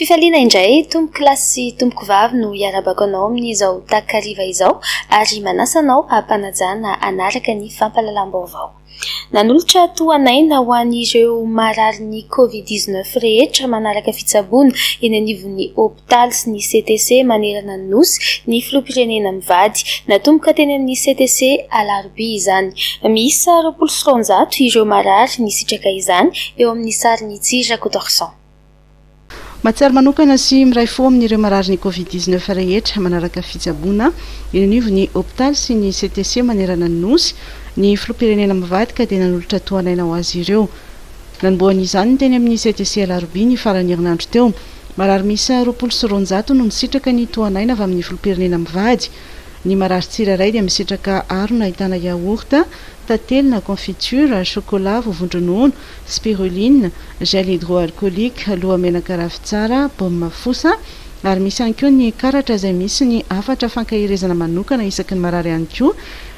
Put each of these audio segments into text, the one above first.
Fifaliana indray, tompoko lahy sy tompoko vavy no hiarabako anao amin'izao takariva izao ary manasa anao hampanajana hanaraka ny fampahalalam-baovao. Nanolotra tohan'aina ho an'ireo mararin'ny Covid dix neuf rehetra manaraka fitsaboana eny anivon'ny hopitaly sy ny CTC manerana ny Nosy ny filoham-pirenena mivady. Natomboka teny amin'ny CTC alarobia izany. Miisa roapolo sy roanjato ireo marary nisitraka izany eo amin'ny sarin'i Tsy Rakotoarison. Mahatsiaro manokana sy miray fo amin'ireo mararin'ny Covid dix neuf rehetra manaraka fitsaboana eny anivon'ny hopitaly sy ny CTC manerana ny Nosy ny Filoham-pirenena mivadika dia nanolotra tohan'aina ho azy ireo. Nanombohany izany teny amin'ny CTC alarobia ny faran'ny herinandro teo. Marary miisa roapolo sy roanjato no nisitraka ny tohan'aina avy amin'ny Filoham-pirenena mivady. Ny marary tsirairay dia misitraka harona ahitana yaourt, tantely na confiture, chocolat, voavon-dronono, spiruline, gel hydroalcoolique, lohamenaka ravintsara, baume fosa, ary misy ihany koa ny karatra izay misy ny hafatra fankaherezana manokana isaky ny marary ihany koa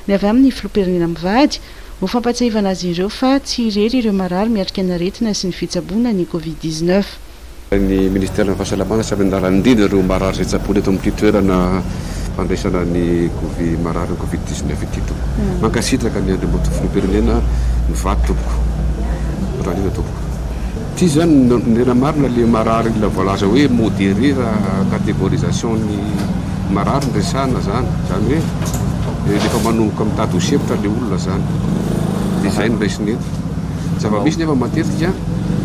ny avy amin'ny Filoham-pirenena mivady, ho fampatsiahivana azy ireo fa tsy irery ireo marary miatrika ny aretina sy ny fitsaboana ny Covid dix-neuf. Ny ministeran'ny Fahasalamana samy niara-nindrindra ireo marary izay tsaboina eto amin'ity toerana fandraisana ny Covid, marary ny Covid dix neuf ity tompoko. Mankasitraka ny Andriamatoa Filoham-pirenena mivady tompoko. Misaotra indrindra tompoko. Ity izany no nirina marina ilay marary ilay voalaza hoe modéré raha catégorisation ny marary no resahana izany. Izany hoe rehefa manomboka mitady ho sempotra ilay olona izany. Dia izay no raisina eto. Zava-misy nefa matetika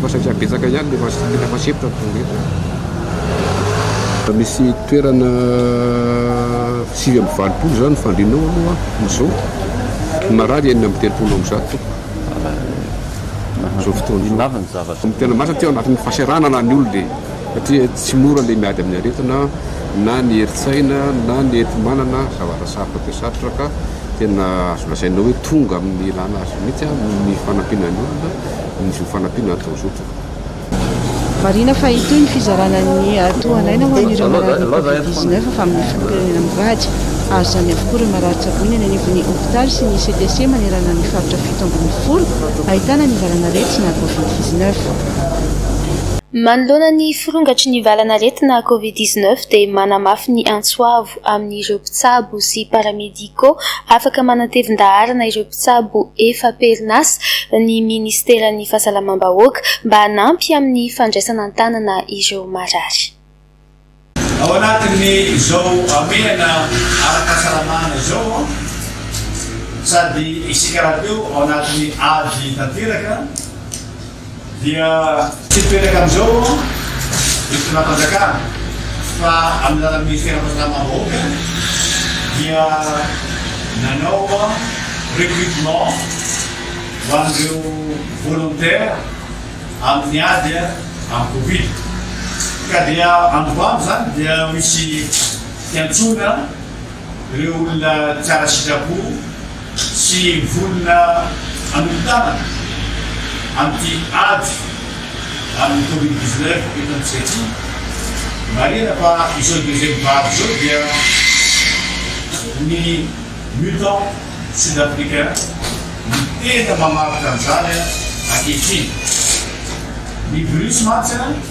fa satria betsaka ihany ny efa tena efa sempotra ny faoretina. Misy toerana sivy amby valopolo izany ny fandrinao aloha amin'izao. Ny marary enina amby telopolo amby zato tompoko. Amin'izao fotoana izao. Inona avy ny zavatra? Ny tena marina satria ao anatin'ny fahasahiranana ny olona e. Satria tsy mora ilay miady amin'ny aretina na ny herin-tsaina na ny enti-manana zavatra sarotra dia sarotra ka. Tena azo lazaina hoe tonga amin'ny ilana azy mihitsy aho noho ny fanampiana ny olona, ny zo fanampiana atao zotra. Marihina fa hitohy ny fizarana ny tohan'aina ho an'ireo marary ny Covid dix neuf avy amin'ny filoham-pirenena mivady. Hahazo izany avokoa ireo marary tsaboina eny anivon'ny hopitaly sy ny CTC manerana ny faritra fito ambin'ny folo ahitana ny valan'aretina Covid dix neuf. Manoloana ny firongatry ny valan'aretina Covid dix neuf dia manamafy ny antso avo. amin'ireo mpitsabo sy paramédicaux afaka manatevin-daharana ireo mpitsabo efa-perinasa ny Ministeran'ny Fahasalamam-bahoaka mba hanampy amin'ny fandraisana an-tanana ireo marary. Ao anatin'ny izao hamehana ara-pahasalamana izao sady isika rahateo ao anatin'ny ady tanteraka, dia tsy hipetraka amin'izao ny fitondram-panjakana fa amin'ny alalan'ny Minisitera Fahasalamam-bahoaka dia nanao recrutement ho an'ireo volontaires amin'ny ady amin'ny Covid ka dia androany izany dia misy fiantsoana Ireo olona tsara sitrapo sy vonona hanompo tanana amin'ity ady amin'ny covid dix neuf eto amintsika ity. Marihina fa izao deuxième vague izao dia ny mutant sud-africain no tena mamaritra an'izany ankehitriny. Ny virus mantsy an!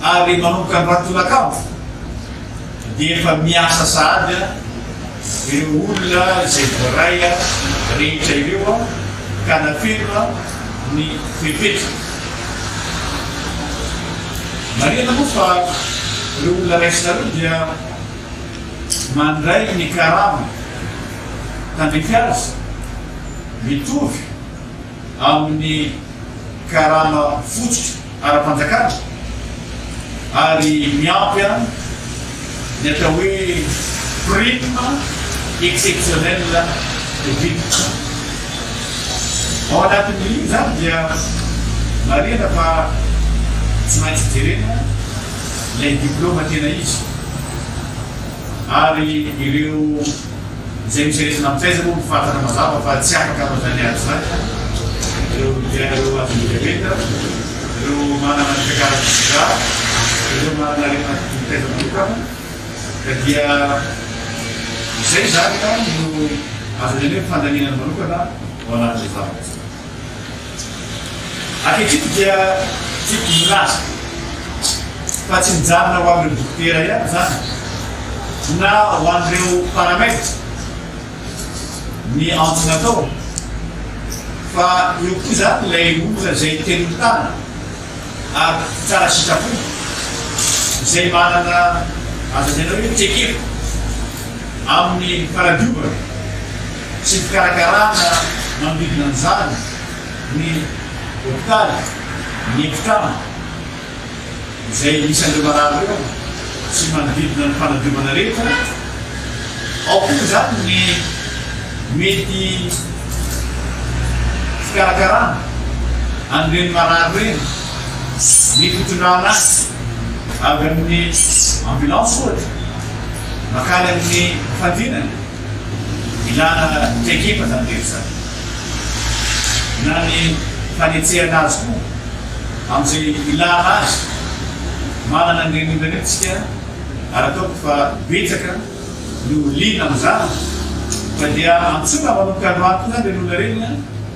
ary manomboka ny ratolakandro dia efa miasa sahady ireo olona izay voaray rehetra ireo ka nafeno ny fepetra. Marihana moa fa ireo olona raisina ireo dia mandray ny karama tandrify azy mitovy amin'ny karama fototra ara-panjakana ary miampy ihany ny atao hoe prime exceptionnelle de victime. Ao anatin'io izany dia marihina fa tsy maintsy jerena ilay diplaoma tena izy ary ireo. Izay mijery izay nampiaiza moa no fantatra mazava fa tsy afaka hanao izany ady izany ireo mpiaina ireo madinika rehetra, ireo manana ny fiakarany vizità, ireo manana aretina mitaiza manokana ka dia izay izany no azo lazaina hoe fandaniana ny manokana ao anatin'izany. Ankehitriny dia tiako hilaza fa tsy mijanona ho an'ireo dokotera ihany izany na ho an'ireo paramed ny antso natao fa eo koa izany ilay olona izay te mitana ary tsara sitrapo izay manana azo lazaina hoe trekefo amin'ny fanadiovana Tsy fikarakarana manodidina an'izany ny hopitaly, ny efitrano izay anisan'ireo marary ireo sy ny manodidina ny fanadiovana rehetra. Ao koa izany ny mety fikarakarana an'ireny marary ireny, ny fitondrana azy avy amin'ny ambulance ohatra makany amin'ny fandrinana. Ilana traikefa izany rehetra izany. Ilana ny fanetsehana azy koa amin'izay ilana azy. Manana an'ireny olona ireny isika ary ataoko fa betsaka no liana amin'izany. Fa dia antsoina manomboka androany koa izany ireny olona ireny.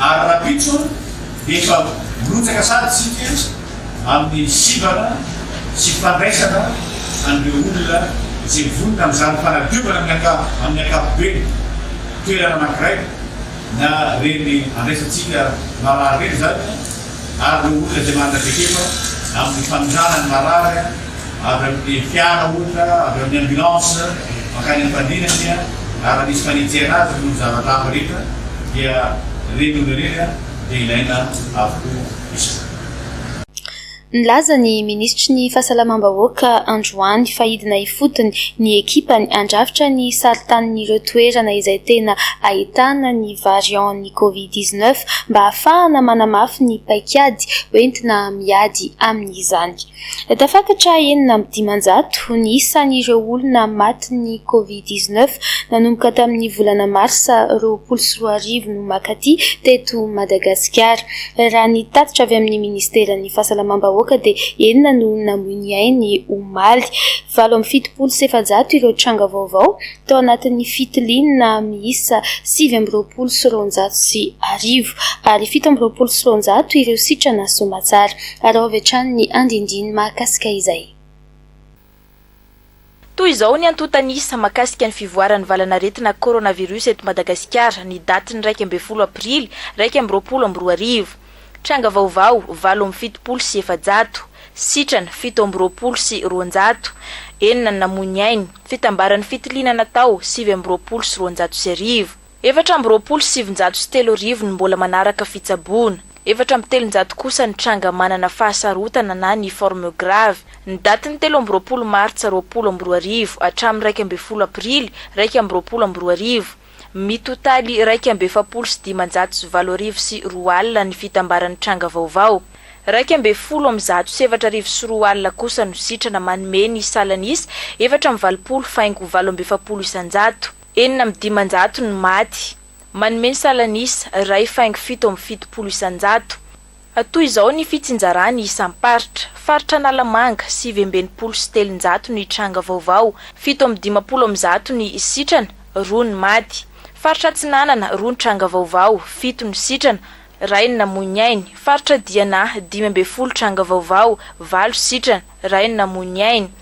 ary rahampitso efa mirotsaka sahady isika amin'ny sivana sy fandraisana an'ireo olona izay vonona amin'izany fanadiovana amin'ny ankapobeny toerana anankiray na ireny andraisantsika marary ireny izany ary ireo olona izay manana traikefa amin'ny fanondranan'ny marary avy amin'ny fiara ohatra, avy amin'ny ambulance mankany am-pandriana dia raha misy fanenjehana azy ireo zavatra hafa rehetra dia ireny olona ireny dia ilaina avokoa izany. Nilaza ny minisitry ny Fahasalamam-bahoaka androany fa hidina ifotony ny ekipany handrafitra ny sarintanin'ireo toerana izay tena ahitana ny variant-n'ny Covid dix neuf mba hahafahana manamafy ny paikady hoentina miady amin'izany. Tafakatra enina amby dimanjato ny isan'ireo olona matin'ny Covid dix neuf nanomboka tamin'ny volana marsa roapolo sy roa arivo no mankaty teto Madagasikara. Raha ny tatitra avy amin'ny Ministeran'ny Fahasalamam-bahoaka dia enina no namoy ny ainy omaly. Valo amby fitopolo sy efajato ireo tranga vaovao tao anatin'ny fitiliana miisa sivy amby roapolo sy roanjato sy arivo, ary fito amby roapolo sy roanjato ireo sitrana soamantsara. Araho avy hatrany ny andinindiny mahakasika izay. Toy izao ny antontan'isa mahakasika ny fivoaran'ny valanaretina coronavirus eto Madagasikara, ny datin'ny iraika ambin'ny folo aprily iraika amby roapolo amby roa arivo. Tranga vaovao, valo amby fitopolo sy efajato, sitrana, fito amby roapolo sy roanjato, enina ny namoy ny ainy, fitambaran'ny fitiliana natao, sivy amby roapolo sy roanjato sy arivo, efatra amby roapolo sy sivinjato sy telo arivo ny mbola manaraka fitsaboana, efatra amby telonjato kosa ny tranga manana fahasarotana na ny forme grave. Ny datin'ny telo amby roapolo martsa roapolo amby roa arivo hatramin'ny iraika ambin'ny folo aprily iraika amby roapolo amby roa arivo, Mitotaly iraika amby efapolo sy dimanjato sy valo arivo sy roa alina ny fitambaran'ny tranga vaovao. Iraika ambin'ny folo amin'ny zato sy efatra arivo sy roa alina kosa no sitrana manome ny salan'ny isa efatra amby valopolo faingo valo amby efapolo isanjato. Enina amby dimanjato ny maty. Manome ny salan'ny isa iray faingo fito amby fitopolo isanjato. Toy izao ny fitsinjarany isam-paritra, Faritra Analamanga, sivy amby enimpolo sy telonjato ny tranga vaovao, fito amby dimampolo amby zato ny sitrana, roa ny maty. Faritra Atsinanana, roa ny tranga vaovao, fito ny sitrana, iray ny namoy ny ainy. Faritra Diana, dimy ambin'ny folo tranga vaovao, valo sitrana, iray ny namoy ny ainy.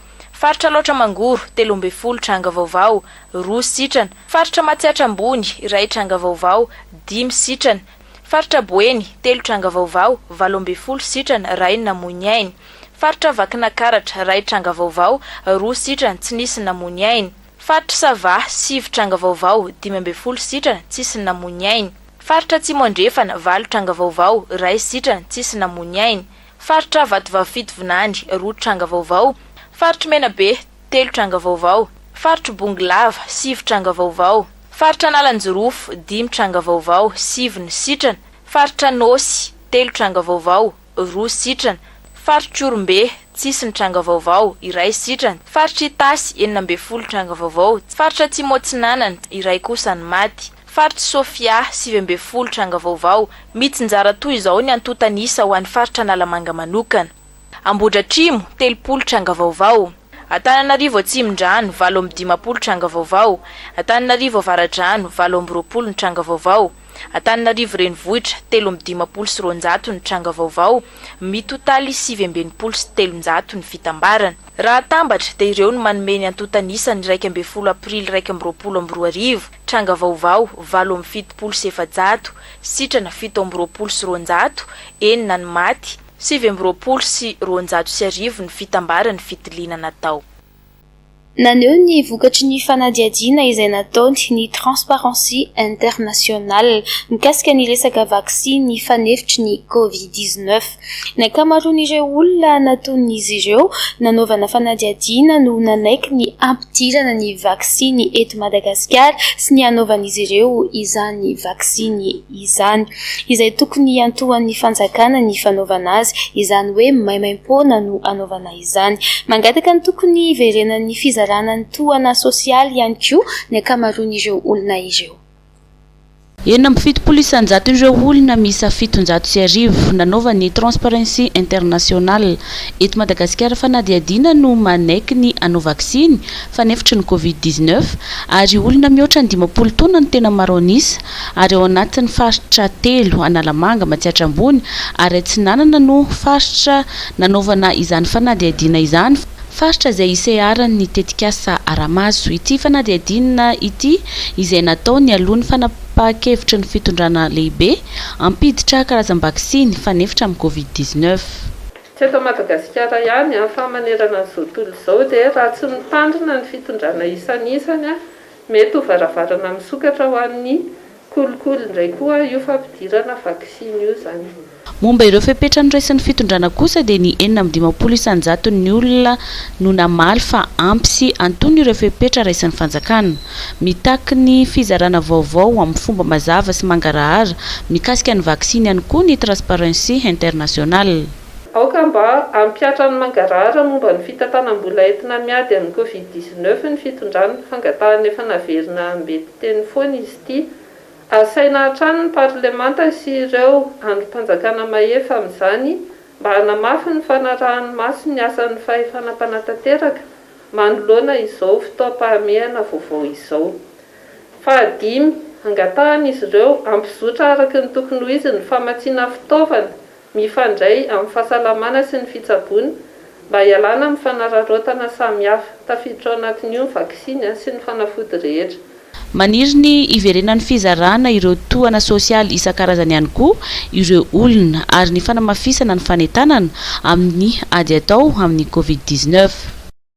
Faritra Alaotra Mangoro, telo ambin'ny folo tranga vaovao, roa sitrana. Faritra Matsiatra Ambony, iray tranga vaovao, dimy sitrana. Faritra Boeny, telo tranga vaovao, valo ambin'ny folo sitrana, iray namoy ny ainy. Faritra Vakinakaratra, iray tranga vaovao, roa sitrana, tsy nisy namoy ny ainy. Faritra Sava, sivy tranga vaovao, dimy ambin'ny folo sitrana, tsisy namoy ny ainy. Faritra Atsimo Andrefana, valo tranga vaovao, iray sitrana, tsisy namoy ny ainy. Faritra Vatovavy Fitovinany, roa tranga vaovao. Faritry Menabe, telo tranga vaovao. Faritry Bongolava, sivy tranga vaovao. Faritra Analanjirofo, dimy tranga vaovao, sivy ny sitrana, Faritra Anôsy, telo tranga vaovao, roa sitrana, Faritr'Ihorombe, tsisy ny tranga vaovao, iray sitrana, Faritr'Itasy, enina ambin'ny folo tranga vaovao, Faritra Atsimo Atsinanana, iray kosa ny maty, Faritra Sofia, sivy ambin'ny folo tranga vaovao. Mitsinjara toy izao ny antontan'isa ho an'ny Faritra Analamanga manokana. Ambohidratrimo, telopolo tranga vaovao. Antananarivo Atsimondrano, valo amby dimampolo tranga vaovao, Antananarivo Avaradrano, valo amby roapolo ny tranga vaovao, Antananarivo Renivohitra, telo amby dimampolo sy roanjato ny tranga vaovao, mitotaly sivy amby enimpolo sy telonjato ny fitambarana. Raha atambatra, dia ireo no manome ny antontan'isa ny iraika ambin'ny folo aprily iraika amby roapolo amby roa arivo, tranga vaovao, valo amby fitopolo sy efajato, sitrana, fito amby roapolo sy roanjato, enina ny maty, Sivy amby roapolo sy roanjato sy arivo ny fitambaran'ny fitiliana natao. Naneho ny vokatry ny fanadihadiana izay nataony ny Transparency International mikasika ny resaka vaksiny fanefitry ny Covid dix-neuf. Ny ankamaroan'ireo olona natonin'izy ireo nanaovana fanadihadiana no nanaiky ny hampidirana ny vaksiny eto Madagasikara sy ny hanaovan'izy ireo izany vaksiny izany, izay tokony hiantohan'ny fanjakana ny fanaovana azy, izany hoe maimaimpoana no hanaovana izany. Mangataka ny tokony hiverenan'ny fizarana ny tohana sosialy ihany koa ny ankamaroan'ireo olona ireo. Enina amby fitopolo isanjaton' ireo olona miisa fitonjato sy arivo nanaova ny Transparency International eto Madagasikara fanadihadiana no manaiky ny hanao vaksiny fanefitry ny Covid dix-neuf ary olona mihoatra ny dimampolo taona no tena maro an'isa ary ao anatin'ny faritra telo, Analamanga, Matsiatra Ambony ary Atsinanana no faritra nanaovana izany fanadihadiana izany, faritra izay iseharan'ny tetikasa Aramaso. Ity fanadihadiana ity izay natao nialoha ny fanapahan-kevitry ny fitondrana lehibe hampiditra karazam-baksiny fanefitra amin'ny Covid dix-neuf. Tsy eto Madagasikara ihany fa manerana izao tontolo izao dia raha tsy mitandrina ny fitondrana isan'isany Mety ho varavarana misokatra ho an'ny kolikoly indray koa io fampidirana vaksiny io izany. Momba ireo fepetra noraisin'ny fitondrana kosa dia ny enina amby dimampolo isan-jaton'ny olona no namaly fa ampy sy antonony ireo fepetra raisin'ny fanjakana. Mitaky ny fizarana vaovao amin'ny fomba mazava sy mangarahara mikasika ny vaksiny ihany koa ny Transparency International. Aoka mba hampihatra ny mangarahara momba ny fitantanam-bola entina miady amin'ny Covid dix-neuf ny fitondrana. Fangatahana efa naverina ambety teny foana izy ity. Asaina hatrany ny parlemanta sy ireo andrim-panjakana mahefa amin'izany mba hanamafy ny fanarahany maso ny asan'ny fahefana mpanatanteraka manoloana izao fotoam-pahamehana vaovao izao. Fahadimy, angatahan'izy ireo hampizotra araka ny tokony ho izy ny famatsiana fitaovana mifandray amin'ny fahasalamana sy ny fitsaboana mba hialana amin'ny fanararaotana samihafa. Tafiditra ao anatin'io ny vaksiny sy ny fanafody rehetra. Maniry ny hiverenan'ny fizarana ireo tohana sosialy isan-karazany ihany koa ireo olona ary ny fanamafisana ny fanentanana amin'ny ady atao amin'ny Covid dix-neuf.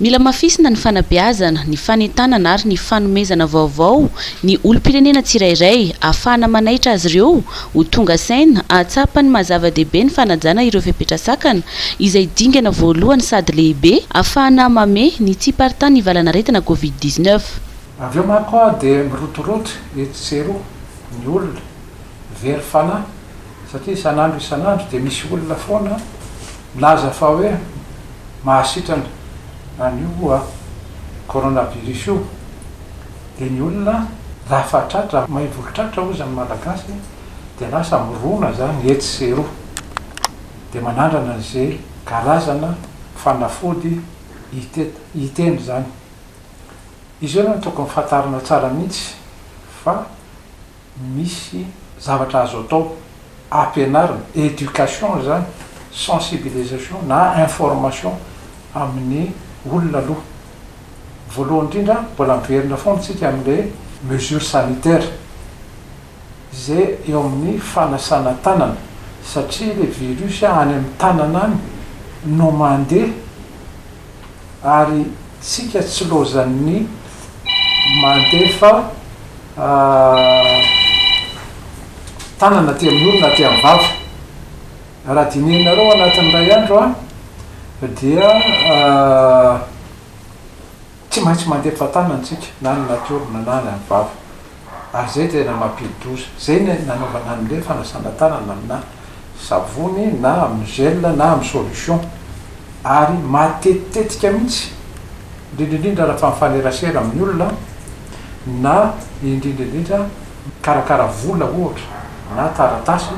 Mila mafisina ny fanabeazana, ny fanentanana ary ny fanomezana vaovao ny olom-pirenena tsirairay, ahafahana manaitra azy ireo ho tonga saina, hahatsapa ny maha zava-dehibe ny fanajana ireo fepetra sakana izay dingana voalohany sady lehibe, ahafahana mame ny tsy hiparitahan'ny valanaretina Covid dix-neuf. Avy eo manko dia mirotoroto etsy sy eroa ny olona, very fanahy satria isan'andro isan'andro dia misy olona foana. Milaza fa hoe mahasitrana an'io coronavirus io dia ny olona raha fatratra, mahay volotratra hoy izany malagasy dia lasa mirona izany etsy sy eroa dia manandrana izay karazana fanafody hiteny izany. Izy io no tokony fantarina tsara mihitsy fa. misy zavatra azo atao ampianarina, éducation izany, sensibilisation na information amin'ny olona aloha. Voalohany indrindra mbola miverina foana isika amin'ilay mesure sanitaire izay eo amin'ny fanasana tanana satria ilay virus any amin'ny tanana any no mandeha, ary tsika tsy lozan'ny mandefa tanana aty amin'ny orona aty amin'ny vava. Raha dinihinareo anatin'ny iray andro dia Tsy maintsy mandeha fatanana tsika na ny natiora na na ny any vava ary zay tena mampidi-doza. Zay ny nanaovana anle fanasana tanana amina savony na amin'ny gel na amin'ny solution ary matetitetika mihitsy indrindra indrindra raha fa mifanerasera amin'ny olona na indrindra indrindra mikarakara vola ohatra na taratasy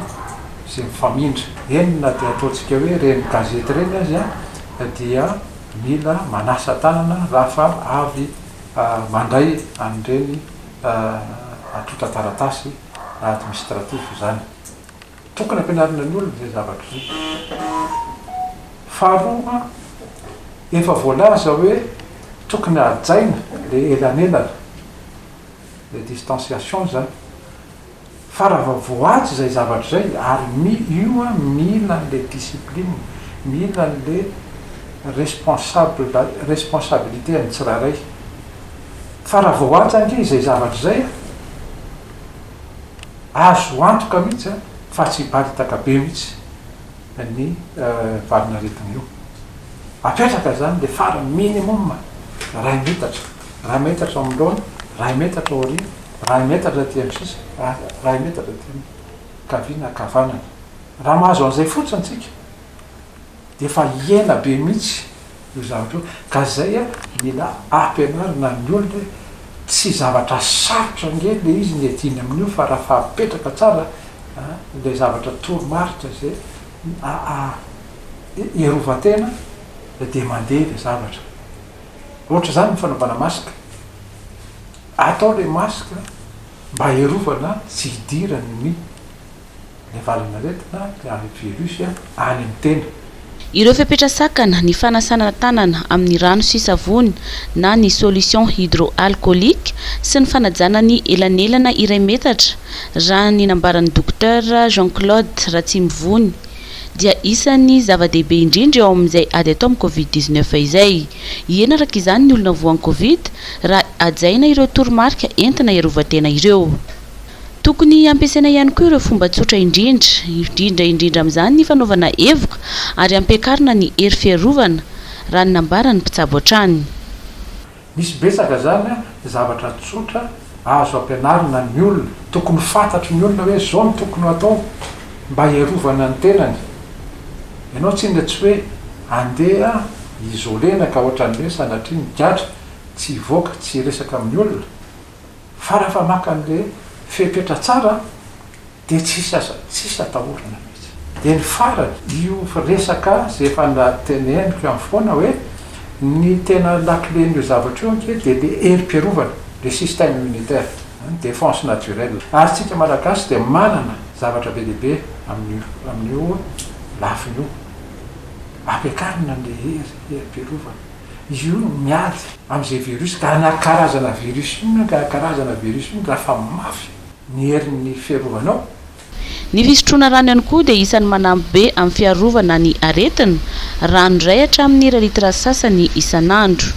izay mifamindra. Eny na dia ataontsika hoe ireny gazety ireny aza dia. Mila manasa tanana raha fa avy mandray an'ireny antontan-taratasy administratif izany. Tokony ampianarina ny olona izay zavatra izay. Faharoa, efa voalaza hoe tokony hajaina ilay elanelana, ilay distanciation izany. Fa raha vao voahaja izay zavatra izay, ary io an mila an'ilay discipline, mila an'ilay responsable, responsabilité an'ny tsirairay. Fa raha vao voahaja ange izay zavatra izay an, azo antoka mihitsy an fa tsy hiparitaka be mihitsy ny valin'aretina io. Apetraka izany ilay farany minimum iray metatra. iray metatra manoloana, iray metatra aoriana, iray metatra aty amin'ny sisiny, iray metatra aty amin'ny ankaviana, ankavanana. Raha mahazo an'izay fotsiny tsika dia efa hihena be mihitsy io zavatra io. Ka izay a, mila ampianarina ny olona hoe tsy zavatra sarotra ange ilay izy ny hiadiana amin'io fa raha fahapetraka tsara ilay zavatra toromarika izay iarovan-tena dia mandeha ilay zavatra. Ohatr'izany ny fanaovana masque. Atao ilay masque mba hiarovana tsy hidiran'ny ny valin'aretina na ny virus any amin'ny tena. Ireo fepetra sakana, ny fanasana tanana amin'ny rano sy savony na ny solution hydroalcoolique sy ny fanajana ny elanelana iray metatra, raha ny nambaran'ny Dokotera Jean Claude Ratsimivony. dia isan'ny zava-dehibe indrindra eo amin'izay ady atao amin'ny Covid dix neuf izay. Hiena araka izany ny olona voan'ny Covid raha hajaina ireo toromarika entina hiarovan-tena ireo. Tokony hampiasaina ihany koa ireo fomba tsotra indrindra, indrindra indrindra amin'izany ny fanaovana hevoka ary hampiakarina ny hery fiarovana, raha ny nambaran'ny mpitsabo hatrany. Misy betsaka zany a, zavatra tsotra azo ampianarina ny olona, tokony fantatry ny olona hoe zao no tokony hatao mba hiarovana ny tenany, ianao tsinona tsy hoe andeha isolena ka ohatran'ny hoe sanatria ny gadra tsy hivoaka tsy hiresaka amin'ny olona, fa rafa maka anle fepetra tsara de tsisy aza tsisy atahorana mitsy. De ny farany io resaka ze efa nateneniko ihany foana hoe ny tena lakilen'io zavatra io ange de le herim-piarovana le système immunitaire ny défense naturelle ary tsika malagasy de manana zavatra be dia be amin'io amin'io lafiny io ampiakarina ny herim-piarovana. izy io no miady amin'izay virus ka na karazana virus inona ka karazana virus inona raha fa mafy ny herin'ny fiarovanao. Ny fisotroana rano ihany koa dia isan'ny manampy be amin'ny fiarovana ny aretina, rano iray hatramin'ny iray litre sasany isan'andro.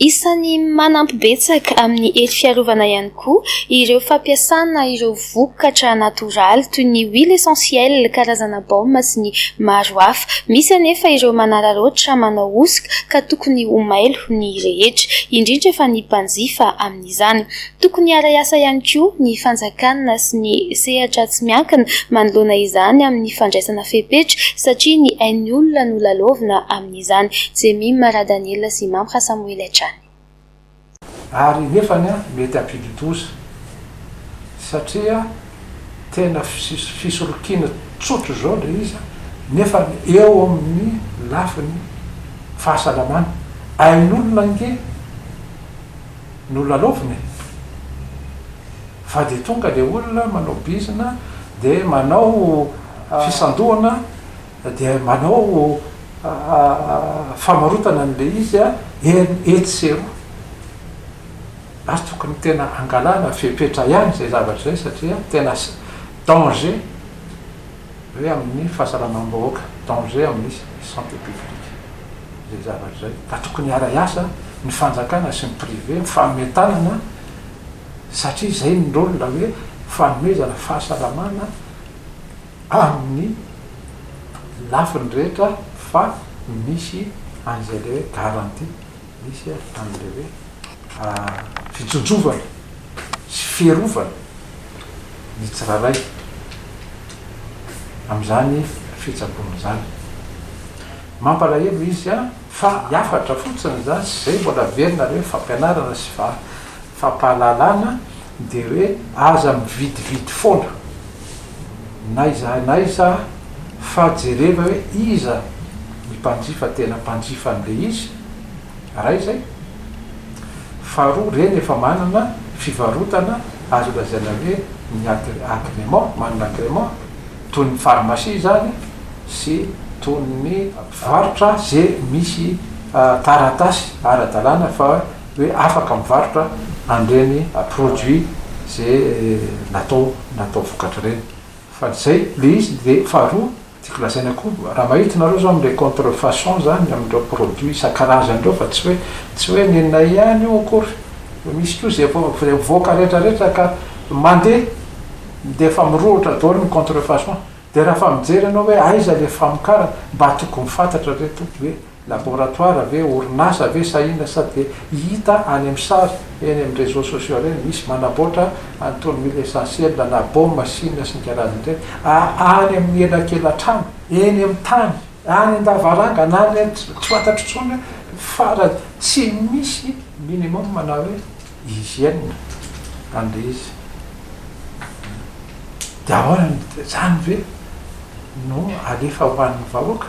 Isan'ny manampy betsaka amin'ny hery fiarovana ihany Koa ireo fampiasana ireo vokatra natoraly toy ny huile essentielle, karazana baume sy ny maro hafa. Misy anefa ireo manararaotra, manao hosoka ka tokony ho mailo ny rehetra, indrindra fa ny mpanjifa amin'izany. Tokony hiara asa ihany koa ny fanjakana sy ny sehatra tsy miankina manoloana izany amin'ny fandraisana fepetra satria ny ain'ny olona no lalaovina amin'izany. Jemima Radaniela sy Mamha Samoela hatrany. Ary nefany an mety hampidi-doza satria tena fisolokiana tsotra izao ilay izy an, nefany eo amin'ny lafiny fahasalamana, ain'olona ange no lalaovina e! Fa dia tonga ilay olona manao bizina dia manao fisandohana dia manao famarotana an'ilay izy etsy sy eroa. Ary tokony tena hangalana fepetra ihany izay zavatra izay satria tena danger hoe amin'ny fahasalamam-bahoaka, danger amin'ny santé publique izay zavatra izay. Ka tokony hiara-hiasa ny fanjakana sy ny privé mifanome tanana satria izay ny rôle hoe fanomezana fahasalamana amin'ny lafiny rehetra fa misy an'izay ilay hoe garantie, misy an'ilay hoe fitsontsovana sy fiarovana ny tsirairay amin'izany fitsaboana izany. Mampalahelo izy an! Fa hafatra fotsiny izany sy izay mbola averinareo fampianarana sy fampahalalana Dia hoe aza mividividy foana n'aiza n'aiza fa jereva hoe iza ny mpanjifa tena mpanjifa an'ilay izy, iray izay. Faharoa, ireny efa manana fivarotana azo lazaina hoe ny agrément, manana agrément, toy ny pharmacie izany sy toy ny mpivarotra izay misy taratasy ara-dalàna fa hoe afaka mivarotra an'ireny produit ze natao natao vokatra ireny fa izay le izy de faharoa tiako lazaina koa raha mahita nareo zao amle contre façon zany amindreo produit isan-karazany reo fa tsy hoe tsy hoe nenay ihany io akory fa misy koa ze efa ze mivoaka rehetra rehetra ka mande de efa mirohotra daholo ny contre façon de raha efa mijery ianao hoe aiza le famokarana mba tokony fantatra reto hoe Laboratoara ve, orinasa ve sa inona sa dia hita any amin'ny sary eny amin'ny réseaux sociaux ireny misy manaboatra an'itony mille essentiels na baume chine sy ny karazany ireny a any amin'ny elakelatrano eny amin'ny tany any an-davarangana any an tsy fantatro intsony fa ra tsy misy minimum na hoe hygiène an'ilay izy dia ahoana izany ve no alefa ho an'ny vahoaka.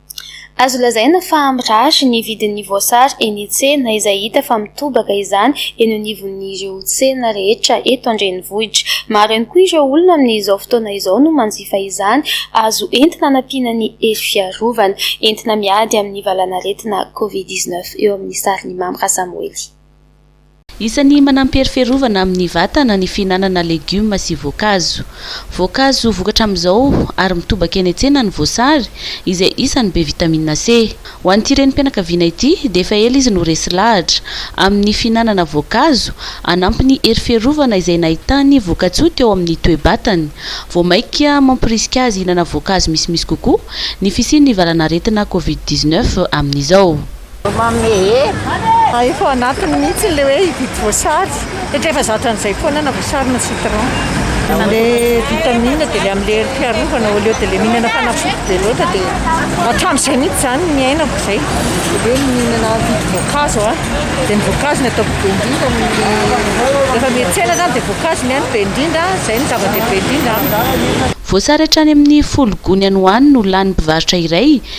Azo lazaina fa mirary ny vidin'ny voasary eny an-tsena izay hita fa mitobaka izany eny anivon'ireo tsena rehetra eto an-drenivohitra. Maro ihany koa ireo olona amin'izao fotoana izao no manjifa izany azo entina hanampiana ny hery fiarovana, entina miady amin'ny valanaretina covid dix-neuf eo amin'ny sarin'i Mamy Rasamoely. Isan'ny manampy hery fiarovana amin'ny vatana ny fihinanana legioma sy voankazo. Voankazo vokatra amin'izao ary mitobaka eny an-tsena ny voasary, izay isan'ny be vitamina C. Ho an'ity renim-pianakaviana ity dia efa ela izy no resy lahatra, amin'ny fihinanana voankazo hanampy ny hery fiarovana izay nahitany voka-tsoa teo amin'ny toe-batany. Vao mainka mamporisika azy hihinana voankazo misimisy kokoa ny fisian'ny valan'aretina Covid dix-neuf amin'izao. Manome hery. A efa ao anatiny mihitsy ilay hoe hividy voasary satria efa zatra an'izay foana na voasary na citron. Ilay vitamine dia ilay amin'ilay herim-piarovana au lieu de ilay mihinana fanafody be loatra dia hatramin'izay mihitsy izany ny iainako izay. Hoe ny mihinana vidy voankazo a, dia ny voankazo ny ataoko be indrindra ny rehefa miantsena izany dia voankazo ny ainy be indrindra, izay ny zava-dehibe indrindra amiko. Voasary hatrany amin'ny folo gony any ho any no lanin'ny mpivarotra iray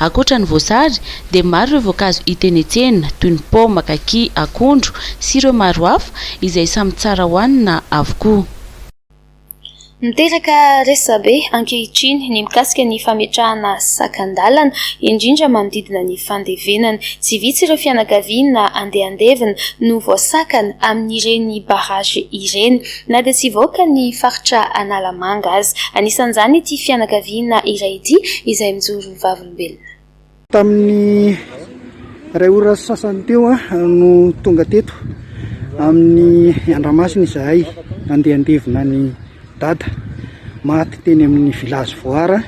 Ankoatra ny voasary, dia maro ireo voankazo hita eny an-tsena, toy ny paoma, kaki, akondro, sy ireo maro hafa, izay samy tsara hohanina avokoa. Miteraka resabe ankehitriny ny mikasika ny fametrahana sakan-dalana, indrindra manodidina ny fandevenana. Tsy vitsy ireo fianakaviana andehandevina no voasakana amin'ireny barrage ireny. Na dia tsy hivoaka ny faritra Analamanga aza. Anisan'izany ity fianakaviana iray ity izay mijoro vavolombelona. Tamin'ny iray ora sy sasany teo no tonga teto amin'ny Andramasina izahay handeha handevina an'i Dada maty teny amin'ny Village Voara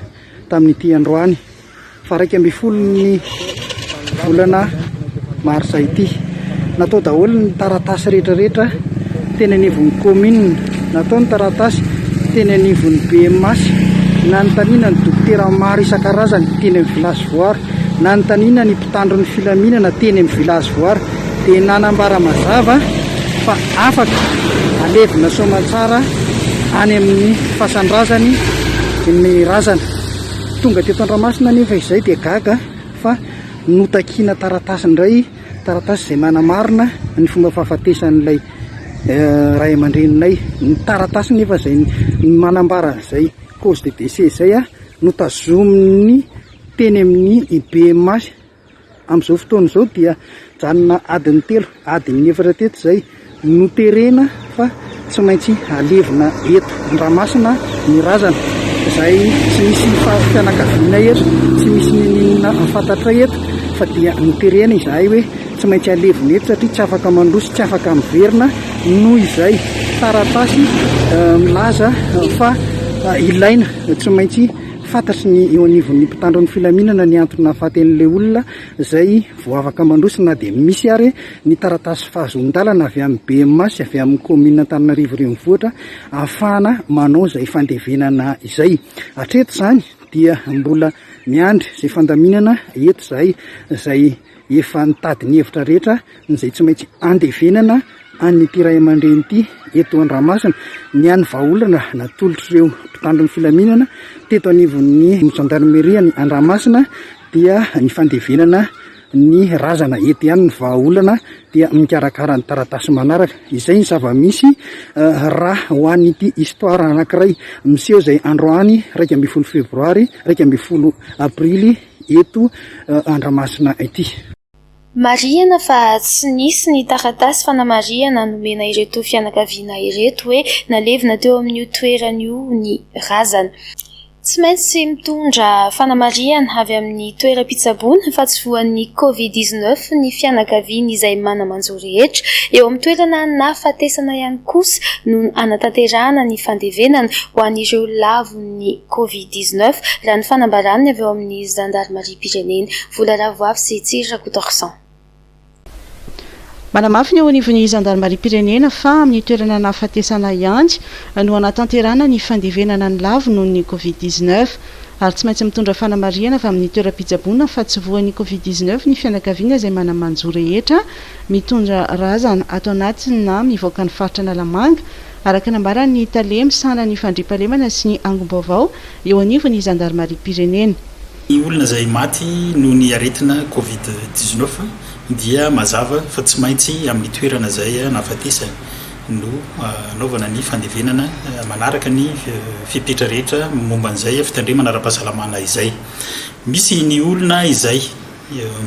tamin'ity androany. Varaika ambin'ny folo ny volana marsa ity. Natao daholo ny taratasy rehetrarehetra teny anivon'ny commune. Natao ny taratasy teny anivon'ny BMH. Nanontaniana ny dokotera maro isan-karazany teny amin'ny village voary. Nanontaniana ny mpitandro ny filaminana teny amin'ny village voary. Dia nanambara mazava fa afaka alevina soamantsara any amin'ny fasandrazany ny razana. Tonga teto Andramasina anefa izahay dia gaga fa notakiana taratasy indray, taratasy izay manamarina ny fomba fahafatesan'ilay ray aman-dreninay. Ny taratasy nefa izay manambara an'izay cause de décès izay no tazomin'ny teny amin'ny IBMA. Amin'izao fotoana izao dia mijanona adiny telo, adiny efatra teto izay no terena fa tsy maintsy alevina eto Andramasina ny razana izay tsy misy fahafitianakaviana eto, tsy misy nenina fantatray eto fa dia no terena izahay hoe tsy maintsy alevina eto satria tsy afaka mandroso, tsy afaka miverina noho izay taratasy milaza fa ilaina tsy maintsy Fantatry ny eo anivon'ny mpitandro ny filaminana ny antony nahafaten'ilay olona izay voavaka mandroso na dia misy ary ny taratasy fahazoan-dalana avy amin'ny bma sy avy amin'ny kaominina Antananarivo Renivohitra ahafahana manao izay fandevenana izay. Hatreto izany dia mbola miandry izay fandaminana eto izahay izay efa nitady ny hevitra rehetra izay tsy maintsy andevenana an'ity ray aman-dreny ity eto Andramasina. Ny an'ny vahaolana natolotr'ireo mpitandro ny filaminana teto anivon'ny zandarmeria any Andramasina dia ny fandevenana ny razana eto ihany ny vahaolana dia mikarakara ny taratasy manaraka. Izay ny zava-misy eh, raha ho an'ity histoire anankiray miseho izay androany iraika ambin'ny folo febroary iraika ambin'ny folo aprily eto Andramasina ity. Marihina fa tsy nisy ny taratasy fanamarihana nomena ireto fianakaviana ireto hoe nalevina teo amin'io toerana io ny razana. Tsy maintsy mitondra fanamarihana avy amin'ny toeram-pitsaboana fa tsy voan'ny Covid dix-neuf ny fianakaviana izay mana-manjo rehetra. Eo amin'ny toerana nahafatesana ihany kosa no hanatanterahana ny fandevenana ho an'ireo lavon'ny. amin'ny Covid dix neuf, raha ny fanambaran'ny avy ao amin'ny zandarimariam-pirenena. Vola Ravoavy sy Tsiry Rakotoarison. Manamafy ny eo anivon'ny zandarimariam-pirenena fa amin'ny toerana nahafatesana ihany no hanatanterahana ny fandevenana ny lavo noho ny Covid dix neuf, ary tsy maintsy mitondra fanamarihana avy amin'ny toeram-pitsaboana fa tsy voan'ny Covid dix neuf ny fianakaviana izay mana-manjo rehetra mitondra razana ato anatiny na mivoaka ny faritra Analamanga araka nambaran'ny tale misahana ny fandriampahalemana sy ny angom-baovao eo anivon'ny zandarimariam-pirenena. Ny olona izay maty noho ny aretina Covid dix-neuf dia mazava fa tsy maintsy amin'ny toerana izay nahafatesany no hanaovana ny fandevenana manaraka ny fepetra rehetra momba an'izay fitandremana ara-pahasalamana izay. Misy ny olona izay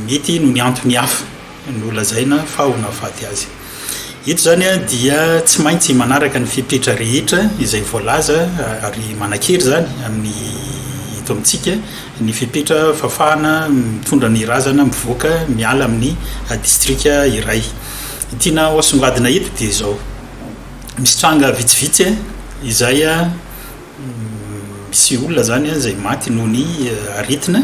mety noho ny antony hafa. nolazaina fa ho nahafaty azy. Eto izany dia tsy maintsy manaraka ny fepetra rehetra izay voalaza ary manan-kery izany amin'ny eto amintsika ny fepetra fafahana mitondra ny razana mivoaka miala amin'ny distrika iray. Ny tiana ho asongadina eto dia izao, misy tranga vitsivitsy izay misy olona izany izay maty noho ny aretina,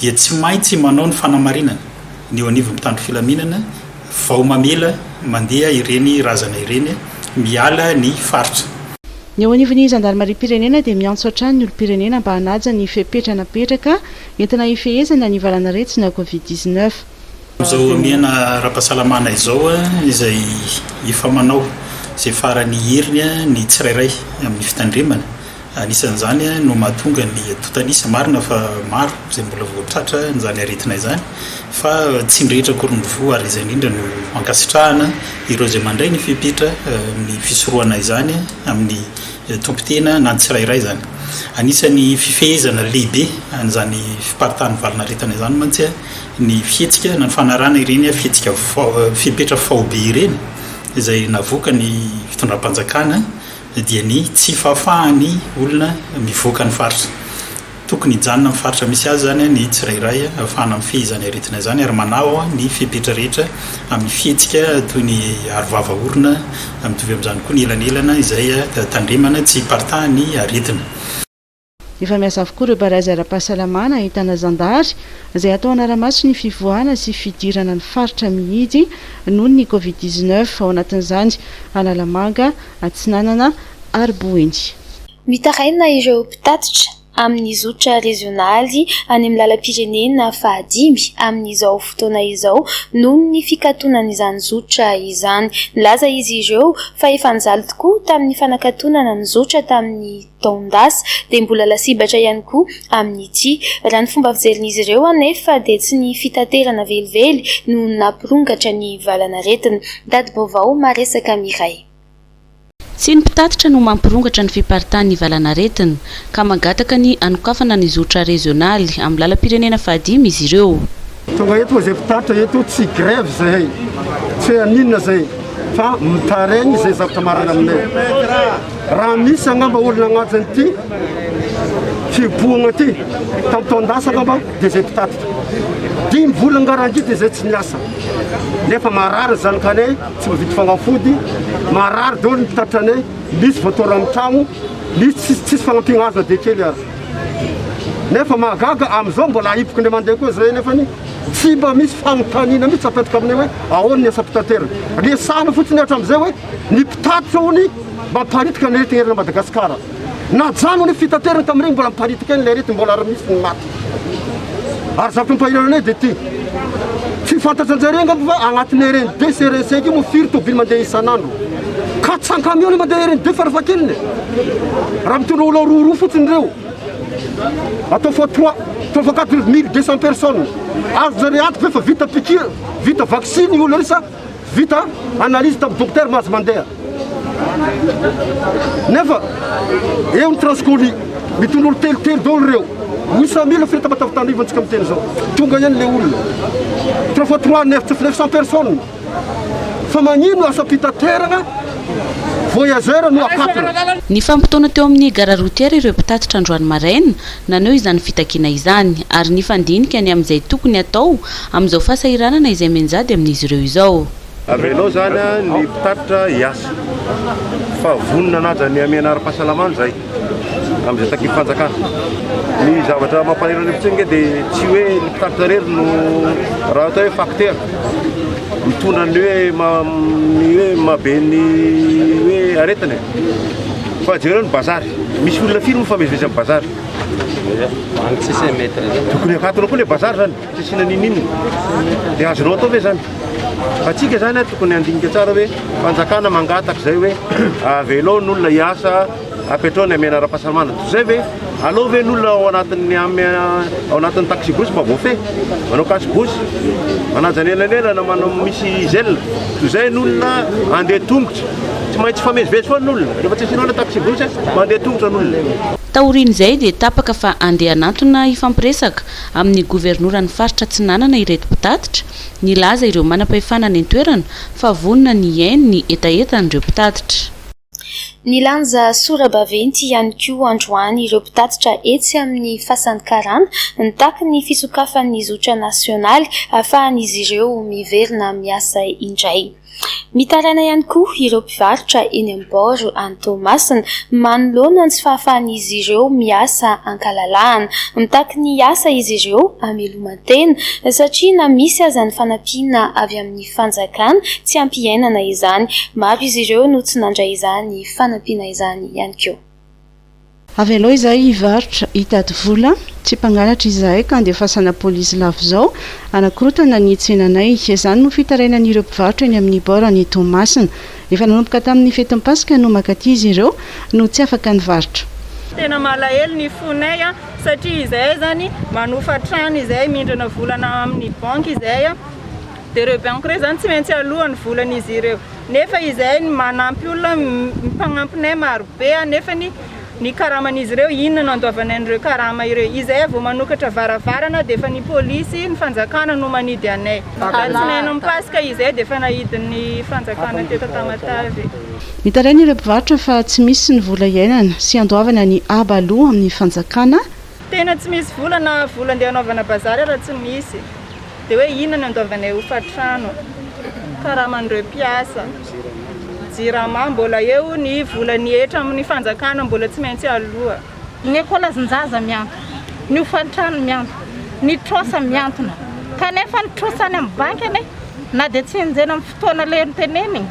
dia tsy maintsy manao ny fanamarinana ny eo anivon'ny mpitandro filaminana vao mamela mandeha ireny razana ireny miala ny faritra. Ny eo anivon'ny zandarimariam-pirenena dia miantso hatrany ny olom-pirenena mba hanaja ny fepetra napetraka entina hifehezana ny valan'aretina Covid dix-neuf. Amin'izao omena ara-pahasalamana izao izay efa manao izay faran'ny heriny ny tsirairay amin'ny fitandremana, anisan'izany no mahatonga ny tontanisa, marina fa maro izay mbola vao tratra an'izany aretina izany fa tsy ny rehetra akory no voa ary izay indrindra no ankasitrahana ireo izay mandray ny fepetra amin'ny fisorohana izany amin'ny tompon-tena na ny tsirairay izany. Anisan'ny fifehezana lehibe an'izany fiparitahan'ny valin'aretina izany mantsy ny fihetsika na ny fanarahana ireny fihetsika fepetra faobe ireny izay navoakan'ny fitondram-panjakana dia ny tsy fahafahan'ny olona mivoaka ny faritra. Tokony hijanona amin'ny faritra misy azy izany ny tsirairay ahafahana mifehy izany aretina izany ary manao ny fepetra rehetra amin'ny fihetsika toy ny aro vava orona, mitovy amin'izany koa ny elanelana izay tandremana tsy hiparitahan'ny aretina. Efa miasa avokoa ireo barazy ara-pahasalamana ahitana zandary izay atao hanara-maso ny fivoahana sy fidirana ny faritra mihidy noho ny covid dix-neuf, ao anatin'izany Analamanga, Atsinanana ary Boeny. Mitaraina ireo mpitatitra amin'ny zotra rezionaly any amin'ny lalam-pirenena fahadimy amin'izao fotoana izao noho ny fikatonan'izany zotra izany. Nilaza izy ireo fa efa nijaly tokoa tamin'ny fanakatonana ny zotra tamin'ny taon-dasa dia mbola lasibatra ihany koa amin'ity. Raha ny fomba fijerin'izy ireo anefa dia tsy ny fitaterana velively no nampirongatra ny valanaretina. Tati-baovao maresaka miray. Tsy ny mpitatitra no mampirongatra ny fiparitahan'ny valanaretina, ka mangataka ny hanokafana ny zotra rezionaly amin'ny lalam-pirenena fahadimy izy ireo. Tonga eto izay mpitatitra eto, tsy grève izahay, tsy hoe haninona izay, fa mitaraigny izay zavatra marary aminay. Raha misy angamba olona agnatin'ity fihibohagna ty, tam taon-dasa angamba de zay mpitatitra. Dimy volagna ngarangy de zay tsy miasa. Nefa marary ny zanakanay, tsy mividy fagnafody, marary daholo ny mpitatitra anay, misy voatôra amin'ny tragno, misy tsisy fagnampiagna azo na dia kely aza. Nefa mahagaga amizao mbola ahiboky ndray mandeha koa zay nefa ny tsy mba misy fagnontaniana mitsy apetraka aminay hoe ahoana ny asam-pitaterana. Resahana fotsiny hatramizay hoe ny mpitatitra hono Mamparitika ny aretina eran'i Madagasikara. Najanony ny fitaterana tamin'ireny mbola miparitika eny ilay aretina mbola ary misy ny maty. Ary zavatra mampahiran anay dia ity. Tsy fantatranjareo angamba fa agnatin'ny RN deux sy RN cinq io moa firy tôbily mandeha isan'andro. Quatre cents camions no mandeha RN deux farafahakeliny e. Raha mitondra olona roa roa fotsiny ireo. Atao fois trois, atao fois quatre mille deux cents personnes. Azonjareo antoka ve fa vita piqûre, vita vaksiny io olona io sa Vita analyse tam Docteur Mahazo Mandeha nefa eo ny transcoli mitondra olo telo telo daholo reo Misa mila fitamatavitana io antsika miteny zao tonga eny le olona trois fois trois neuf neuf cent personnes fa magnino asa fitaterana voyageur no akapina Nifampitaona teo amin'ny gara routière ireo mpitatitra androany maraina, naneho izany fitakiana izany, ary nifandinika ny amin'izay tokony hatao Amin'izao fahasahiranana izay mianjady amin'izy ireo izao. Avelao izany ny mpitatitra hiasa fa vonona hanaja ny hamehana ara-pahasalamana izahay amin'izay takim-panjakana. Ny zavatra mampalahelo any fotsiny ange dia tsy hoe ny mpitatitra irery no raha atao hoe facteur mitondra ny hoe ny hoe mahabe ny hoe aretina e! Fa jereo ny bazary, misy olona firy moa mifamezivezy amin'ny bazary? Tokony akatona koa ilay bazary izany. Tsy asiana ninininona. Dia azonao atao ve izany? Fa tsika izany tokony handinika tsara hoe fanjakana mangataka izay hoe avelao ny olona hiasa, apetrao ny hamehana ara-pahasalamana. Toy izay ve? Alao ve ny olona ao anatin'ny ao anatin'ny taxi-bus mba voafehy? Manao cache-bouche, manaja anelanelana, manao misy zela. Toy izay ny olona handeha tongotra. Tsy maintsy hifamezivezy foana ny olona. Rehefa tsy asianao ilay taxi-bus, mandeha tongotra ny olona. Taorian'izay dia tapaka fa handeha hanantona hifampiresaka amin'ny governoran'ny faritra Atsinanana ireto mpitatitra, nilaza ireo manam-pahefana any an-toerana fa vonona ny hihaino ny hetahetan'ireo mpitatitra. Nilanja sora-baventy ihany koa androany ireo mpitatitra etsy amin'ny Fasan'ny Karana, nitaky ny fisokafan'ny zotra nasionaly ahafahan'izy ireo miverina miasa indray. Mitaraina ihany koa ireo mpivarotra eny amin'ny bord any Toamasina manoloana ny tsy fahafahan'izy ireo miasa ankalalahana. Mitaky ny hiasa izy ireo hameloman-tena satria na misy aza ny fanampiana avy amin'ny fanjakana tsy hampiainana izany. Maro izy ireo no tsy nandray izany fanampiana izany ihany koa. Avelao izahay hivarotra, hitady vola. Tsy mpangalatra izahay ka andefasana polisy lavo izao hanakorotana ny tsenanay. Izany no fitarainan'ireo mpivarotra eny amin'ny bord any Toamasina. Efa nanomboka tamin'ny fetin'ny Paska no mankaty izy ireo no tsy afaka nivarotra. Tena malahelo ny fonay satria izahay izany manofa trano izahay, mindrana vola na amin'ny banky izahay. Dia ireo banky ireo izany tsy maintsy aloa ny volan'izy ireo. Nefa izahay ny manampy olona, ny mpagnampinay marobe nefany ny karaman'izy ireo inona no andoavanay an'ireo karama ireo. Izahay vao manokatra varavarana dia efa ny polisy, ny fanjakana no manidy anay. Alatsinain'ny Paska izahay dia efa nahidin'ny fanjakana teto Tamatave. Mitaraina ireo mpivarotra fa tsy misy ny vola iainana sy andoavana ny haba aloa amin'ny fanjakana Tena tsy misy vola na vola ndeha hanaovana bazary ara tsy misy dia hoe inona no andoavanay hofatrano, karaman'ireo mpiasa, jirama mbola eo ny volan'ny hetra amin'ny fanjakana mbola tsy maintsy aloa. Ny ekolazin-jaza miantona, ny hofantrano miantona, ny trosa miantona kanefa ny trosa any amin'ny banky anie na dia tsy enjehina amin'ny fotoana leha notenenina.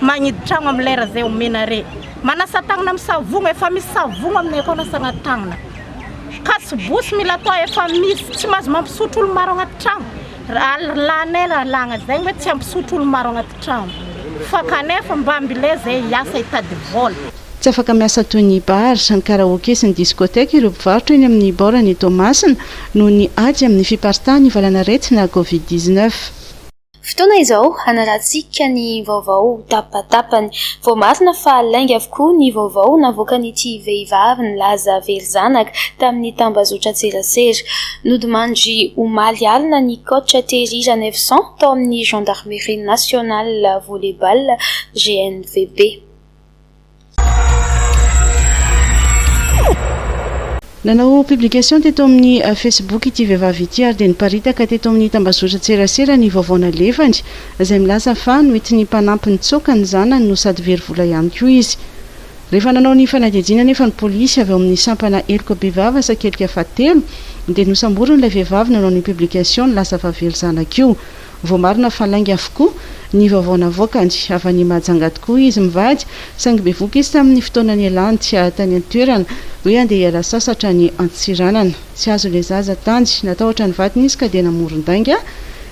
Magnidy tragno am lera zay omena re. Manasa tagnana am savogno efa misy savogno aminay akao anasagna tagnana. Katsy bosy mila atao efa misy. Tsy mahazo mampisotro olo maro agnaty tragno. Lalanay lalagna zegny hoe tsy hampisotro olo maro agnaty tragno. Fa kanefa mba ambile zay hiasa hitady vola. Tsy afaka miasa toy ny bar, ny karaoke sy ny discothèque ireo mpivarotra eny amin'ny bord-n'i Toamasina noho ny ady amin'ny fiparitahan'ny valanaretina covid dix-neuf. Fotoana izao hanarahantsika ny vaovao tapatapany. Voamarina fa lainga avokoa ny vaovao navoakan'ity vehivavy nilaza very zanaka tamin'ny tambazotran-tserasera. Nodimandry omaly alina ny coach Thierry Ranevson tao amin'ny Gendarmerie Nationale Volley-Ball, GNVB. Nanao publication teto amin'ny Facebook ity vehivavy ity ary dia niparitaka teto amin'ny tambazotran-tserasera ny vaovao nalefany, izay milaza fa noentin'ny mpanampy nitsoaka ny zanany no sady very vola ihany koa izy. Rehefa nanao ny fanadihadiana anefa ny polisy avy ao amin'ny sampana heloka bevava sakelika fahatelo dia nosamborin'ilay vehivavy nanao ny publication ny laza vaviely zanak'io. Voamarina fa lainga avokoa ny vaovao navoakany. Avy any Mahajanga tokoa izy mivady, saingy bevohoka izy tamin'ny fotoana nialany tany an-toerana hoe handeha hiala sasatra any Antsiranana. Tsy azo ilay zaza tany. Natahotra ny vadiny izy ka dia namoron-dainga.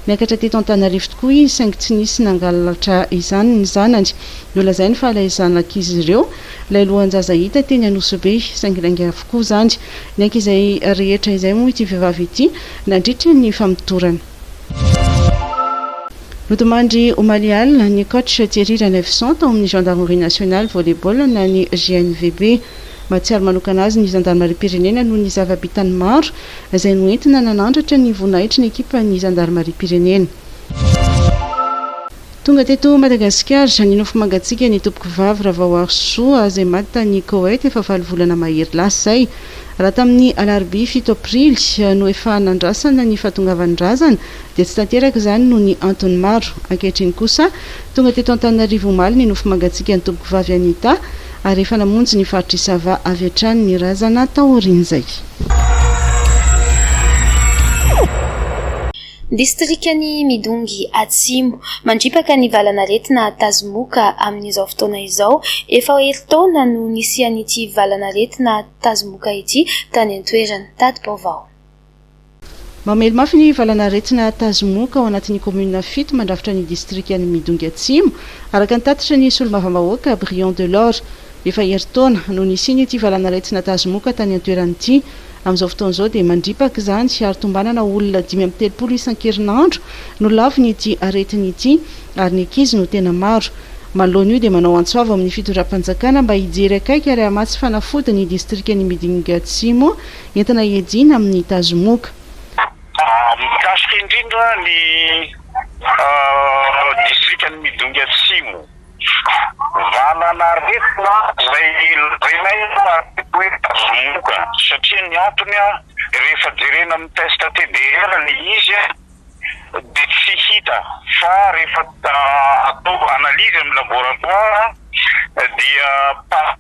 Niakatra teto Antanarivo tokoa izy, saingy tsy nisy nangalatra izany ny zanany. Nolazainy fa ilay zanak'izy ireo ilay lohan-jaza hita teny Anosibe, saingy lainga avokoa izany. Niaiky izay rehetra izay moa ity vehivavy ity nandritra ny famotorana. Nodimandry omaly alina ny coach Thierry Ranaivoson tao amin'ny Gendarmerie Nationale Volley-ball na ny GNVB. Mahatsiaro manokana azy ny zandarimariam-pirenena noho ny zava-bitany maro izay noentina nanandratra ny voninahitry ny ekipan'ny zandarimariam-pirenena. Tonga teto Madagasikara izany nofo mangatsiaka ny tompokovavy Ravaoarisoa izay maty tany Koweït efa valo volana mahery lasa izay. Raha tamin'ny alarobia fito aprily no efa nandrasana ny fahatongavan'ny razana dia tsy tanteraka izany noho ny antony maro. Ankehitriny kosa tonga teto Antananarivo omaly ny nofo mangatsiaka ny tompokovavy Anita ary efa namonjy ny faritr'i Sava avy hatrany ny razana taorian'izay. Distrikan'i Midongy Atsimo. Mandripaka ny valan'aretina Tazomoka amin'izao fotoana izao. Efa herintaona no nisian'ity valan'aretina Tazomoka ity tany an-toerana. Tati-baovao. Mamely mafy ny valan'aretina Tazomoka ao anatin'ny kaominina fito mandrafitra ny distrikan'i Midongy Atsimo, araka ny tatitry ny solombavambahoaka Brion Delord. Efa herintaona no nisian'ity valan'aretina tazomoka tany an-toerana ity. Amin'izao fotoana izao dia mandripaka izany ary tombanana olona dimy amby telopolo isan-kerinandro no lavon'ity aretina ity ary ny ankizy no tena maro. Manoloana io dia manao antso avo amin'ny fitondram-panjakana mba hijery akaiky ary hamatsy fanafody ny distrikan'i Midingatsimo entina hiadiana amin'ny tazomoka. Mikasika indrindra ny distrikan'i Midingatsimo. Valanaretina izay lazainay ary koa hoe tazomoka satria ny antony rehefa jerena amin'ny test TDR le izy dia tsy hita fa rehefa atao analyse amin'ny laboratoire dia pas.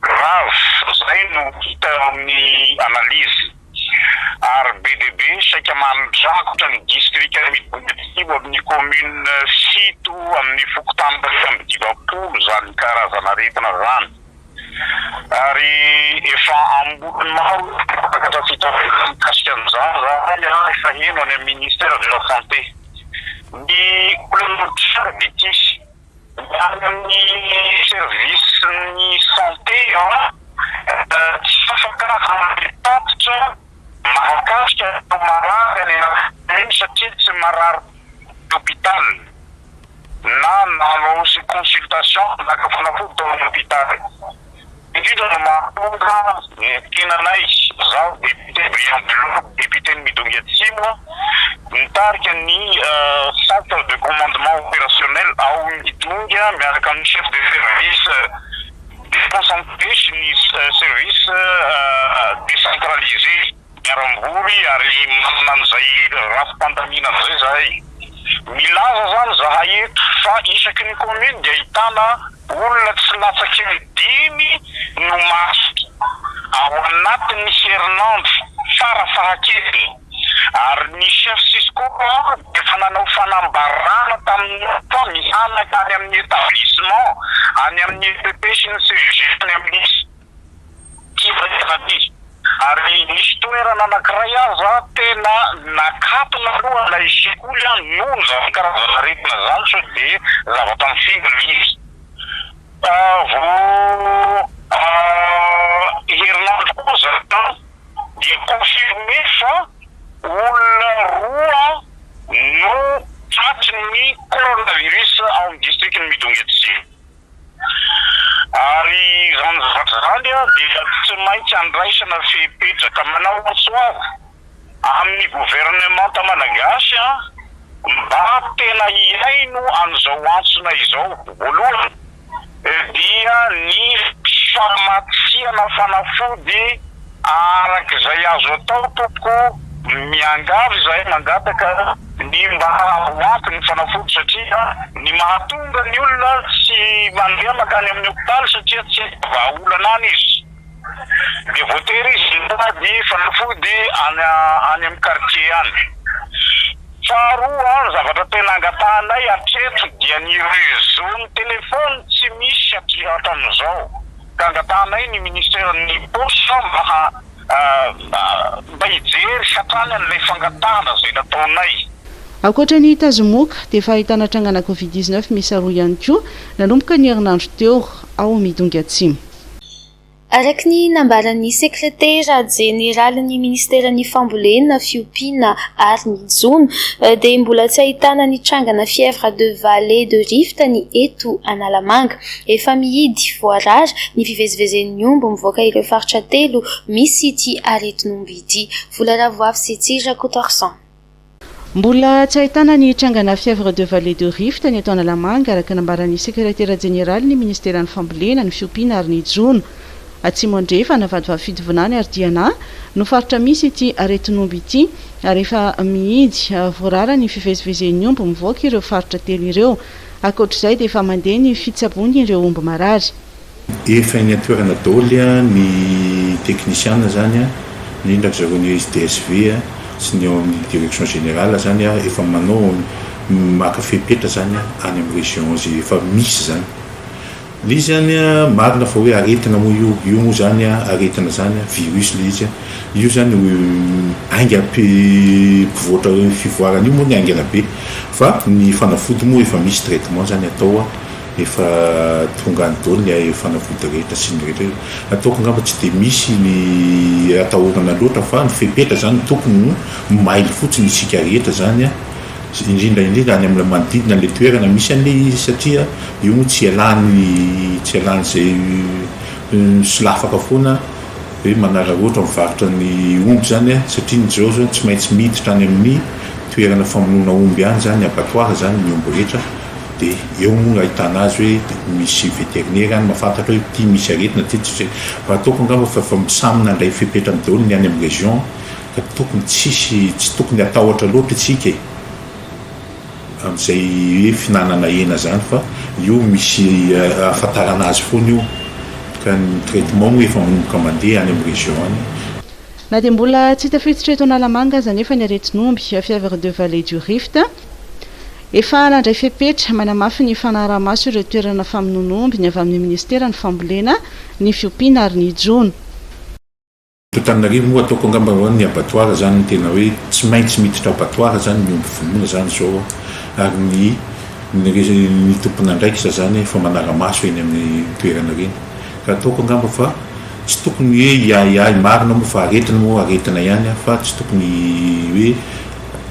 Grave izay no hita eo amin'ny analyse ary be dia be saika mandrakotra ny distrika Ambohidratrimo amin'ny commune fito amin'ny fokontany iraika amby dimampolo izany karazana aretina izany ary efa ambolony maro ny mpampianatra fitarainana mikasika an'izany izany ary efa heno any amin'ny ministère de la santé ny olana mitranga dia ity Miala amin'ny service ny santé an! Tsy afaka hanome tatitra mahakasika ireo marary any anaty tany satria tsy marary tany hôpital na nanao consultation naka fanafody tao amin'ny hôpital. Indrindra no mahatonga ny tenanay, izaho député Brian Bello, député-n'i Midongy Atsimo, mitarika ny centre de commandement opérationnel ao Midongy miaraka amin'ny chef de service déconcentré sy ny service décentralisé. Diarambory ary manana an'izay rafi-pandamina izay izahay. Milaza izany izahay eto fa isaky ny commune dia ahitana olona tsy latsaky ny dimy no maty ao anatin'ny herinandro fara fahakeliny ary ny chef Cisco dia efa nanao fanambarana tamin'ny fa mihanaka any amin'ny établissement, any amin'ny EPP sy ny CEG any amin'ny. kivy rehefa aty, ary nisy toerana anankiray aza tena nakatona aloha ilay sekoly an, noho izany karazan'aretina izany sao dia zavatra mifingo ilay izy, vao herinandro koa izany an dia confirmé fa olona roa no tratry ny coronavirus ao amin'ny district-n'i Midongy Atsimo. Ary izany zavatra izany dia tsy maintsy andraisana fepetraka manaontso avy amin'ny governemanta malagasy mba tena hihaino an'izao antsona izao. Voalohany dia ny famatsiana fanafody. Araka izay azo atao tompoko, miangavy izahay mangataka ny mba ho ampy ny fanafody satria ny mahatonga ny olona tsy mandeha makany amin'ny hopitaly satria tsy hay vahaolana any izy dia voatery izy mitady fanafody any amin'ny quartier any. Faharoa ny zavatra tena angatahanay hatreto dia ny réseau ny téléphone tsy misy hatrizao. ka angatahanay ny ministeran'ny paosy mba ha mba hijery hatrany an'ilay fangatahana izay nataonay. Ankoatra ny Tazomoka dia efa ahitana trangana covid dix neuf miisa roa ihany koa nanomboka ny herinandro teo ao Midongy Atsimo. Araka ny nambaran'ny sekretera jeneralin'ny ministeran'ny fambolena, fiompiana ary ny jono dia mbola tsy ahitana ny trangana fièvre de vallée de rift ny eto Analamanga. Efa mihidy, voarara, ny fivezivezen'ny omby mivoaka ireo faritra telo misy ity aretin'omby ity. Vola Ravoavy sy Tsiry Rakotoarison. Mbola tsy ahitana ny trangana fièvre de vallée de rift ny eto Analamanga, araka nambaran'ny sekretera jeneralin'ny ministeran'ny fambolena, ny fiompiana ary ny jono. Atsimo Andrefana, Vadivavy Fitovinany ary Diana no faritra misy ity aretin'omby ity ary efa mihidy, voarara ny fivezivezen'ny omby mivoaka ireo faritra telo ireo. Ankoatra izay dia efa mandeha ny fitsaboan ireo omby marary. Efa eny an-toerana daholo ny teknisiana zany an, indrindra ry zareo ny SDSV sy ny ao amin'ny direction générale zany an, efa manao maka fepetra zany any amin'ny région ze efa misy zany. Le izy zany a marina fa hoe aretina moa io, io moa zany a aretina zany a virus le izy a, io zany ainga mpi mpivoatra io fivoarana io moa ny aingana be fa ny fanafody moa efa misy traitement zany atao a, efa tonga any daoly ny a fanafody rehetra sy ny rehetra io, ataoko angamba tsy de misy ny atahorana loatra fa ny fepetra zany tokony ho mailo fotsiny isika rehetra zany a. indrindra indrindra any amin'ilay manodidina an'ilay toerana misy an'ilay izy satria io moa tsy ialany tsy ialàn'izay misolafaka foana hoe manaraka ohatra mivarotra ny omby izany a, satria ny Jirao izao tsy maintsy miditra any amin'ny toerana famonoana omby any izany, abattoir izany ny omby rehetra dia eo moa no ahitana azy hoe misy vétérinaire any mahafantatra hoe ity misy aretina ity tsy misy aretina, raha ataoko angamba fa efa samy nandray fepetra daholo ny any amin'ny région. Tokony tsisy, tsy tokony hatahotra loatra isika e, amin'izay hoe fihinanana hena izany fa io misy ahafantarana azy foana io ka ny traitement moa efa manomboka mandeha any amin'ny région any. Na dia mbola tsy tafiditra eto Analamanga aza anefa ny aretin'omby, fièvre de vallée du Rift, efa nandray fepetra manamafy ny fanaraha-maso ireo toerana famonoana omby ny avy amin'ny minisiteran'ny fambolena, ny fiompiana ary ny jono. Antananarivo moa ataoko angamba hoe ny abattoir zany no tena hoe tsy maintsy miditra abattoir zany ny omby vonoina zany zao ary ny ny tompon'andraikitra zany efa manara-maso eny amin'ny toerana ireny ka ataoko angamba fa tsy tokony hoe hiahiahy marina moa fa aretina moa aretina ihany fa tsy tokony hoe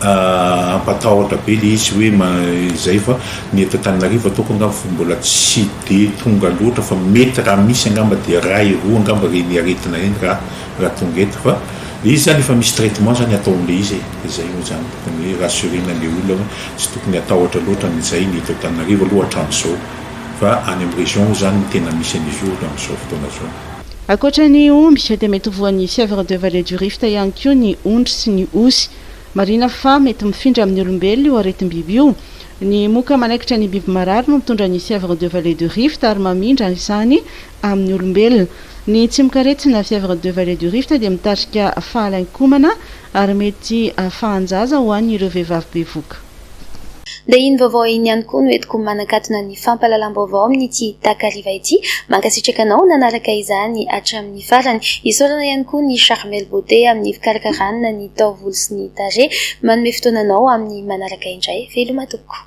hampatahotra be le izy hoe izay fa ny eto Antananarivo ataoko angamba fa mbola tsy de tonga loatra fa mety raha misy angamba de iray roa angamba reny aretina reny raha raha tonga eto fa le izy zany efa misy traitement zany ataon'le izy e, de zay moa zany tokony hoe rassurer-na le olona hoe tsy tokony hatahotra loatra amin'izay ny eto Antananarivo aloha hatram'izao fa any am région moa zany no tena misy an'izy io hatram'izao fotoana zao. Ankoatra ny omby, dia mety ho voan'ny fièvre de vallée du Rift ihany koa ny ondry sy ny osy. Marihina fa mety mifindra amin'ny olombelona io aretim-biby io. Ny moka manaikitra ny biby marary no mitondra ny fièvre de vallée du Rift ary mamindra izany amin'ny olombelona. Ny tsimokaretina, fièvre de vallée du Rift, dia mitarika fahalain-komana ary mety fahan-jaza ho an'ireo vehivavy bevoka. Dia iny vaovao iny ihany koa no entiko manakatona ny fampahalalam-baovao amin'ity takariva ity. Mankasitraka anao nanaraka izany hatramin'ny farany. Isaorana ihany koa ny Charmel Beauté amin'ny fikarakarana ny taovolo sy ny tarehy. Manome fotoana anao amin'ny manaraka indray veloma tompoko.